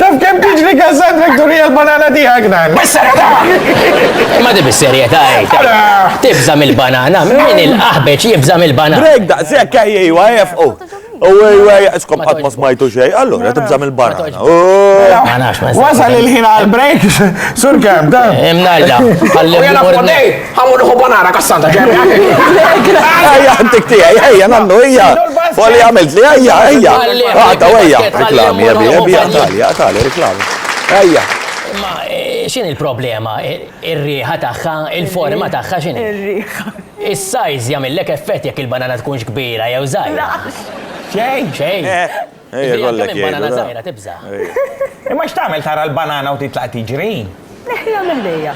Taf kem tiġri gazzat Victoria l-banana tijak dan. Bis-serjetà! Ma di bis-serjetà għajt. Tibza mill-banana, minn il-qaħbeċ jibza mill-banana. Drake da, sekk ejjej, għajf, u. U għaj, għaj, iskom għat ma smajtu xej, allora tibza mill-banana. Wasal il-ħin għal-break, sur kem, da. Imnalla, għallim. Għamur uħu banana kassanta ġemmi. Ejja, għantik tijaj, ejja, nannu, ejja. Għalli għamilt li, ejja, ejja. Għadda, ejja. Reklami, jabbi, jabbi, għatali, għatali, reklami. Ejja. Ma, eh, xin il-problema? Ir-riħa eh, taħħa, il-forma taħħa xin? Ir-riħa. Is-sajz jagħmillek effett jekk il-banana tkunx kbira jew żgħira. Xejn, xejn. Eh. Ejja kollek jgħidu. Banana żgħira tibża'. Imma x'tagħmel tara l-banana u titlaq tiġri? Neħħiha minn ħdejja.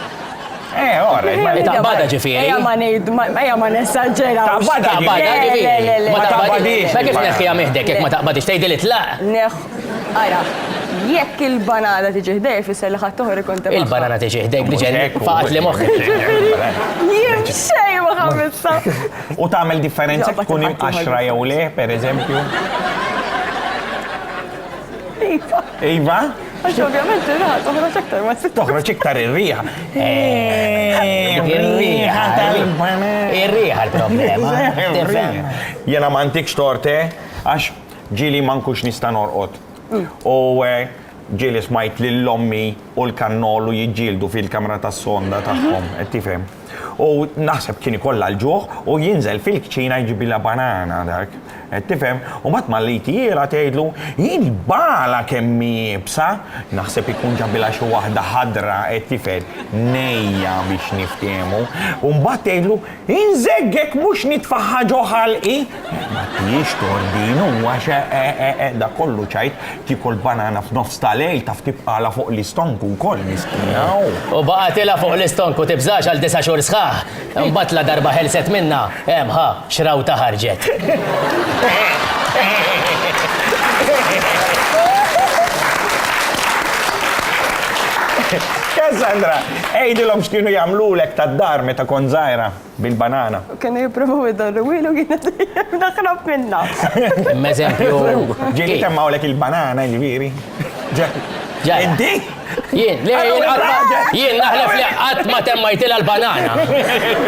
Eh, ora, ma taqbada ġifieri. Ejja ma ngħid, ejja ma nessaġġera. Taqbada ġifieri. Ma taqbadix. Ma kif neħħiha miħdek jekk ma taqbadix tgħidil itlaq. Neħ, ara, jekk il-banana tiġi ħdej fisser li ħadd oħra ikun tibqa'. Il-banana tiġi ħdejk diġen faqat li moħħ. Jien xejn ma ħammiltha. U tagħmel differenza tkun imqaxra jew le, pereżempju. Iva. Iva? Għax ovvjament ir-riħa toħroġ iktar ma trid. Toħroġ iktar ir-riħa. Eh, ir-riħa tal-banan. Ir-riħa l-problema. Jena ma antikx torte għax ġili ma nkux nista' norqod. Mm. U eh, ġili smajt lill-ommi u l-kannolu jiġġieldu fil-kamra tas-sonda tagħhom, qed tifhem. U naħseb kien ikollha l-ġuħ u jinżel fil-kċina jġibilha banana dak. Qed tifhem? U mbagħad malli tira tgħidlu, Jien bala kemm hi iebsa! Naħseb ikun ġabilha xi waħda ħadra, qed tifhem, nejja biex niftehmu. U mbagħad tgħidlu, Inżeggek mhux nitfagħha ġo ħalqi! Ma kienx tordin, u għax eeeeq dak kollu ċajt, tiekol banana f'nofs ta' lejl, taf tibqagħlha fuq l-istonku wkoll, miskina, u. U baqgħetilha fuq l-istonku tibżax għal disa' xhur sħaħ, imbagħad la darba ħelset minnha, hemm ħa, x'rawta ħarġet. Cassandra, għidilhom x'kienu jagħmlulek tad-dar meta kont żgħira. bil-banana. Kienu jipprovaw idorruwilu jiena dejjem naħrab minnha. Imma eżempju. Ġieli temmawlek il-banana ġifieri. Inti? Jien, le, jien naħlef li qatt ma temmajtilha l-banana.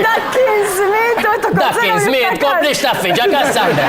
Dak kien żmien tu Dak kien żmien tkompli xtaffi ġa Kassandra.